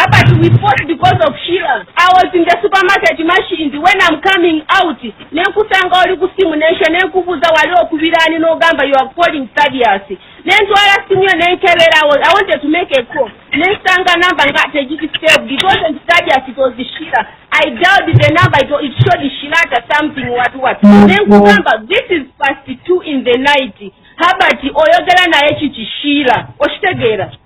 But we fought because of Sheila. I was in the supermarket machines when I'm coming out. Nenkusanga oli ku simu nensha nenkubuza wali okubirani n'ogamba you are calling Thaddeus. Nentwala simu yo nenkebera I wanted to make a call. Nensanga number nga tegiti saved. It wasn't Thaddeus, it was Sheila. I dialed the number, it, it showed Sheila at something what what. Mm-hmm. Nenkugamba this is past two in the night. Habati oyogera naye kiki Sheila. Oshtegera.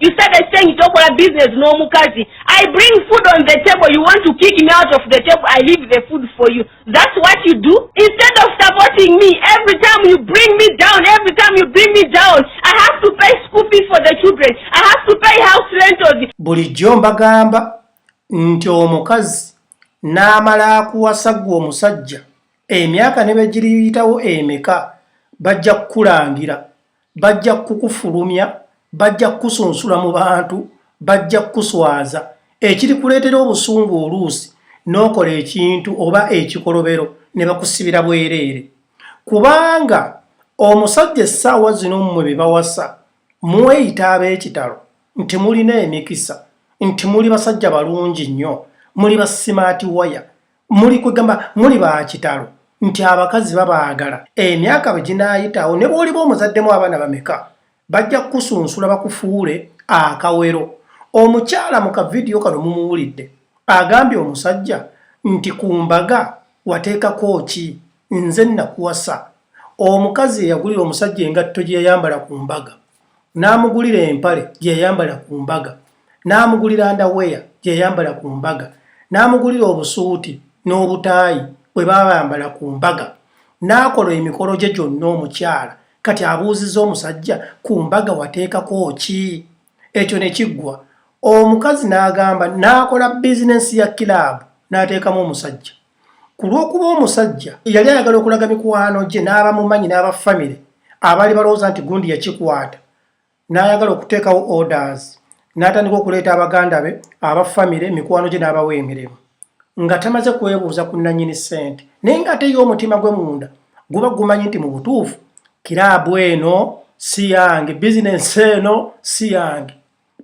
You started saying tokola business no mukazi. I bring food on the table. You want to kick me out of the table. I leave the food for you. That's what you do. Instead of supporting me, every time you bring me down, every time you bring me down, I have to pay school fees for the children. I have to pay house rentals. Bulijjo mbagamba nti omukazi n'amala akuwasa gwe omusajja emyaka ne begiriyitawo emeka bajja kukulangira bajja kukufulumya bajja kukusunsula mu bantu bajja kukuswaza ekiri kuleetera obusungu oluusi n'okola ekintu oba ekikolobero ne bakusibira bwereere kubanga omusajja essaawa zino mmwe be bawasa mweyita ab'ekitalo nti mulina emikisa nti muli basajja balungi nnyo muli basimaati waya muli kwegamba muli bakitalo nti abakazi babaagala emyaka bwe ginaayitawo ne bwoliba omuzaddemu abaana bameka bajja kukusunsula bakufuule akawero omukyala mu kavidiyo kano mumuwulidde agambye omusajja nti ku mbaga wateekako ki nze nakuwasa omukazi eyagulira omusajja engatto gye yayambala ku mbaga n'amugulira empale gye yayambala ku mbaga n'amugulira ndaweya gye yayambala ku mbaga n'amugulira obusuuti n'obutaayi bwe baayambala ku mbaga n'akola emikolo gye gyonna omukyala kati abuuziza omusajja ku mbaga wateekako ki ekyo ne kiggwa omukazi n'agamba n'akola bizinensi ya kiraabu n'ateekamu omusajja ku lw'okuba omusajja yali ayagala okulaga mikwano gye n'abamumanyi n'abafamire abaali balowooza nti gundi yakikwata n'ayagala okuteekawo orders n'atandika okuleeta abaganda be abafamire mikwano gye n'abawa emirimu nga tamaze kwebuuza ku nannyini ssente naye ng'ate ye omutima gwe munda guba gumanyi nti mu butuufu kiraabu eno si yange bizinensi eno si yange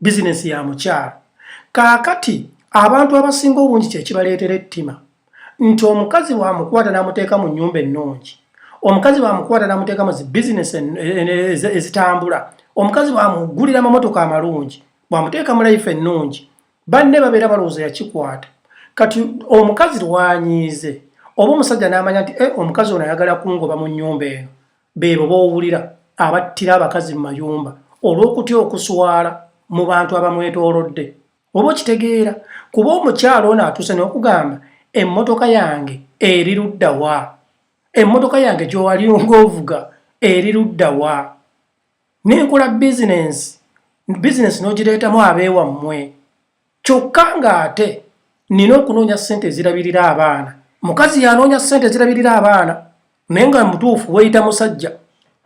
bizinensi ya mukyalo kaakati abantu abasinga obungi kyekibaleetera ettima nti omukazi wamukwata namuteeka mu nyumba ennungi omukazi wamukwata namuteeka mu zibizinesi ezitambula omukazi wamugulira amamotoka amalungi bwamuteeka mu laife ennungi banne babeera balowooza yakikwata kati omukazi lwanyiize oba omusajja n'amanya nti eh, omukazi ono ayagala kungoba mu nnyumba eno Beebo b'owulira abattira abakazi mu mayumba olw'okutya okuswala mu bantu abamwetoolodde. Oba okitegeera kuba omukyala ono atuuse n'okugamba emmotoka yange eri ludda wa? Emmotoka yange gy'owali ng'ovuga eri ludda wa? Ne nkola bizinensi, bizinensi n'ogireetamu abeewammwe. kyokka ng'ate nina okunoonya ssente ezirabirira abaana mukazi yanoonya ssente ezirabirira abaana naye nga mutuufu weeyita musajja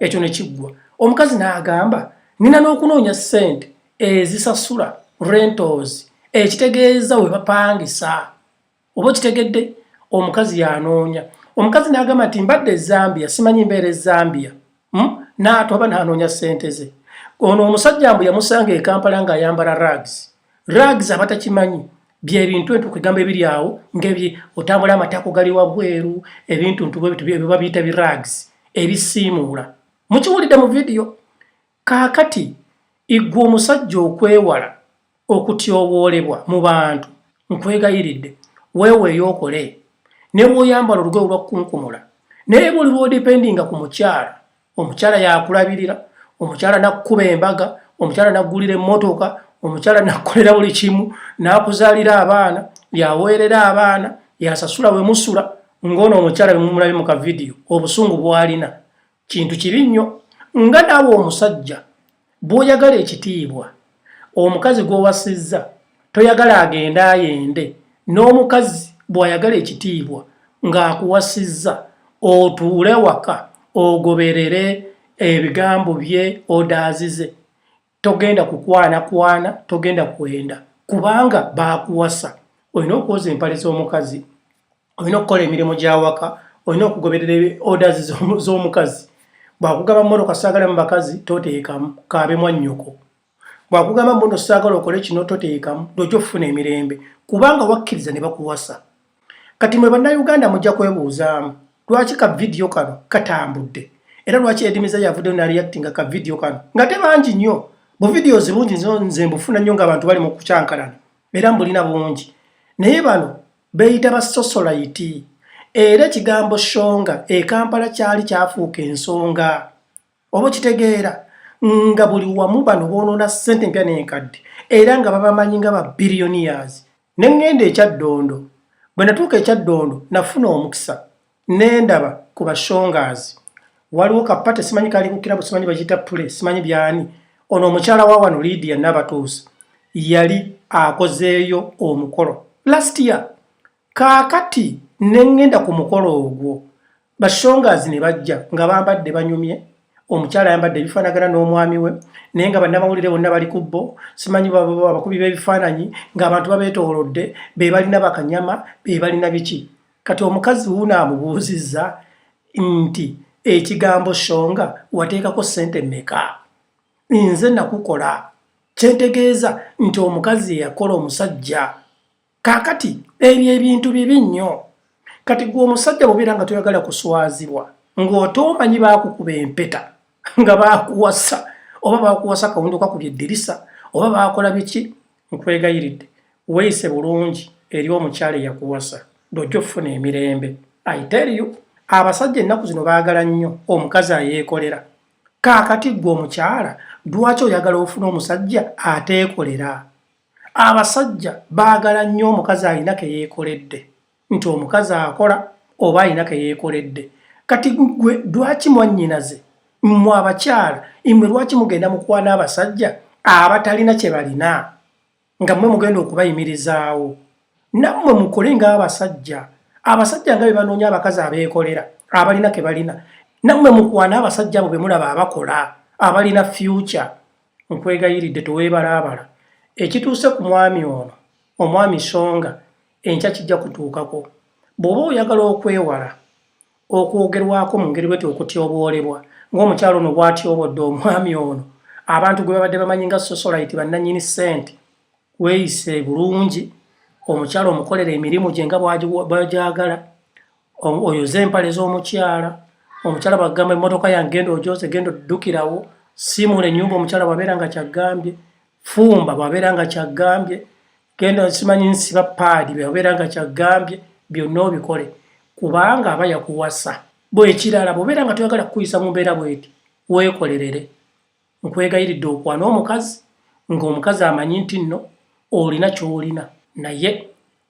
ekyo ne kiggwa omukazi n'agamba nina n'okunoonya ssente ezisasula rentals ekitegeeza we bapangisa oba okitegedde omukazi yanoonya omukazi n'agamba nti mbadde ezambia simanyi mbeera ezambia hmm? naatu aba nanoonya ssente ze ono omusajja mbu yamusanga ekampala nga ayambala rags rags abatakimanyi byebintu entu kwegamba ebiri awo ngebye otambula amatako gali wabweru ebintu ntubiba biyita birags ebisiimuula mukiwulidde mu vidiyo Kaakati, ggwe omusajja okwewala okutyoboolebwa mu bantu, nkwegayiridde, weeweeyo okole, ne bw'oyambala olugoye olw'akukunkumula. Naye buli lw'odipendinga ku mukyala, omukyala y'akulabirira, omukyala n'akukuba embaga, omukyala n'aggulira emmotoka, omukyala n'akukolera buli kimu, n'akuzaalira abaana, y'aweerera abaana, y'asasula we musula, ng'ono omukyala bwe mumulabye mu kavidiyo, obusungu bw'alina. kintu kibi nnyo nga naawe omusajja bw'oyagala ekitiibwa omukazi gw'owasizza toyagala agende ayende n'omukazi bw'ayagala ekitiibwa ng'akuwasizza otuule waka ogoberere ebigambo bye odaazize togenda kukwanakwana togenda kwenda kubanga baakuwasa olina okwoza empale z'omukazi olina okukola emirimu gy'awaka olina okugoberera orders z'omukazi bwakugamba mmotoka saagala mu bakazi toteekamu kaabe mwa nnyoko bwakugamba mbuno saagala okole kino toteekamu lwojja okufuna emirembe kubanga wakkiriza ne bakuwasa kati mwe bannayuganda mujja kwebuuzaamu lwaki ka vidiyo kano katambudde era lwaki edimiza yavuddeyo nareactinga ka vidiyo kano nga te bangi nnyo bu videos bungi nze mbufuna nnyo nga abantu bali mu kukyankalana era mbulina bungi naye bano beyita basosolayiti era ekigambo shonga ekampala kyali kyafuuka ensonga oba okitegeera nga buli wamu bano bonoona ssente empya n'enkadde era nga babamanyi nga ba billionaires ne ŋŋenda ekyaddondo bwe natuuka ekyaddondo nafuna omukisa nendaba ku bashongaazi waliwo kapate simanyi kali ku kirabu simanyi bakiyita pule simanyi byani ono omukyala wa wano lidia nabatuusa yali akozeeyo omukolo last year Kaakati ne ŋŋenda ku mukolo ogwo, bashongas ne bajja nga bambadde banyumye, omukyala ayambadde ebifaanagana n'omwami we, naye nga bannamawulire bonna bali ku bo, simanyi ba, ba, abakubi b'ebifaananyi, ng'abantu babeetoolodde, be balina bakanyama, be balina biki. Kati omukazi wuuno amubuuzizza nti, Ekigambo Shonga wateekako ssente mmeka? Nze nakukola. Kye ntegeeza nti omukazi eyakola omusajja. Kakati ebyo ebintu bibi nnyo kati gwe omusajja bubeera nga toyagala kuswazibwa ng'otoomanyi baakukuba empeta nga baakuwasa oba baakuwasa kawunduka ku byeddirisa oba baakola biki nkwegayiridde weeyise bulungi eri omukyala eyakuwasa lwojja okufuna emirembe aiteriyo abasajja ennaku zino baagala nnyo omukazi ayeekolera kaakati ggwe omukyala lwaki oyagala ofuna omusajja ateekolera Abasajja baagala nnyo omukazi alina ke yeekoledde nti omukazi akola oba alina ke yeekoledde. Kati gwe lwaki mwannyinaze mmwe abakyala imwe lwaki mugenda mukwana abasajja abatalina kye balina nga mmwe mugenda okubayimirizaawo? Nammwe mukole ng'abasajja. Abasajja nga be banoonya abakazi abeekolera abalina ke balina, nammwe mukwane abasajja abo be mulaba abakola abalina fyuca. Nkwegayiridde teweebalaabala. Ekituuse ku mwami ono, omwami Songa, enkya kijja kutuukako. Bw'oba oyagala okwewala okwogerwako mu ngeri bweti okutyoboolebwa ng'omukyala ono bw'atyobodde omwami ono, abantu gwe babadde bamanyi nga Sosolayiti, bannannyini ssente, weeyise bulungi, omukyala omukolere emirimu gye nga bw'agyagala, oyoze empale z'omukyala omukyala bagamba emmotoka yange genda ojoze genda oddukirawo simuula ennyumba omukyala bwabeera nga kyagambye fumba bwabeera nga kyagambye genda simanyi nsiba paadi bwabeera nga kyagambye byonna obikole kubanga aba yakuwasa bwekirala bwobeera nga toyagala kukuyisa mu mbeera bweti weekolerere nkwegayiridde okwana omukazi ng'omukazi amanyi nti nno olina ky'olina naye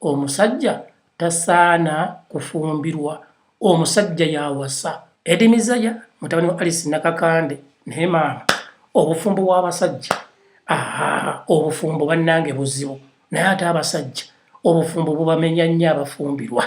omusajja tasaana kufumbirwa omusajja yawasa Eddie Mizaya mutabani wa Alice Nakakande naye maama obufumbo bw'abasajja aa obufumbo bannange buzibu naye ate abasajja obufumbo bubamenya nnyo abafumbirwa